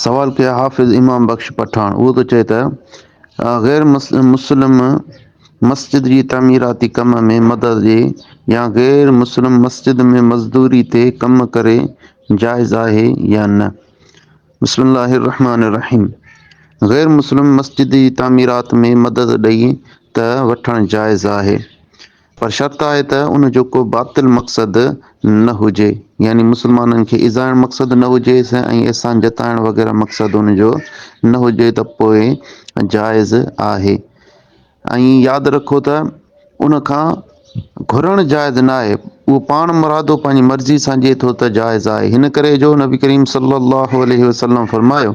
سوال ڪيو حافظ امام بخش پٺاڻ اهو ٿو چئي ته غير مسلم مسجد جي تعميراتي ڪم ۾ مدد ڏي يا غير مسلم مسجد ۾ مزدوري تي ڪم ڪري جائز آهي يا نه بسم الله الرحمٰن الرحيم غير مسلم مسجد جي تعميرات ۾ مدد ڏئي ته وٺڻ جائز آهي. پر شرط آهي ته ان جو ڪو باطل مقصد نه هجي، يعني مسلمانن کي ايذائڻ مقصد نه هجيس ۽ احسان جتائڻ وغيره مقصد ان جو نه هجي ته پوء جائز آهي ۽ ياد رکو ته ان کان گهرڻ جائز نه آهي، اهو پاڻ مرادو پنهنجي مرضي سان ڏئي ٿو ته جائز آهي، هن ڪري جو نبي ڪريم صلّي اللّٰه عليه وسلّم فرمايو،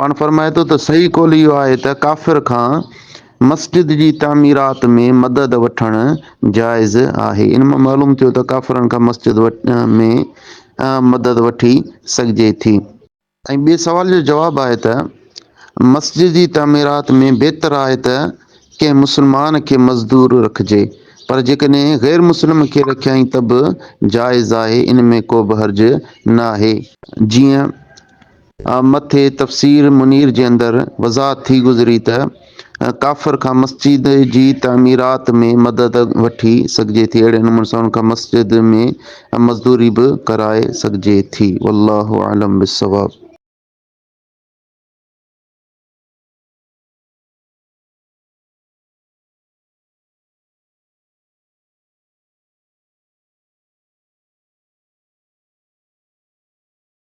پاڻ فرمائي ٿو ته صحيح قول اهو آهي ته ڪافر کان مسجد جي تعميرات ۾ مدد وٺڻ جائز آهي. ان مان معلوم ٿيو ته ڪافرن کان مسجد ۾ مدد وٺي سگهجي ٿي. ۽ ٻئي سوال جو جواب آهي ته مسجد جي تعميرات ۾ بهتر آهي ته ڪنهن مسلمان کي مزدور رکجي پر جيڪڏهن غير مسلم کي رکيائين ته به جائز آهي ان ۾ ڪوبه حرج ناهي. جيئن. مٿي تفسير منير جي اندر وضاحت ٿي گذري ته ڪافر کان مسجد جي تعميرات ۾ مدد وٺي سگهجي ٿي اهڙي نموني سان ان کان مسجد ۾ مزدوري به ڪرائي سگهجي ٿي والله اعلم بالصواب.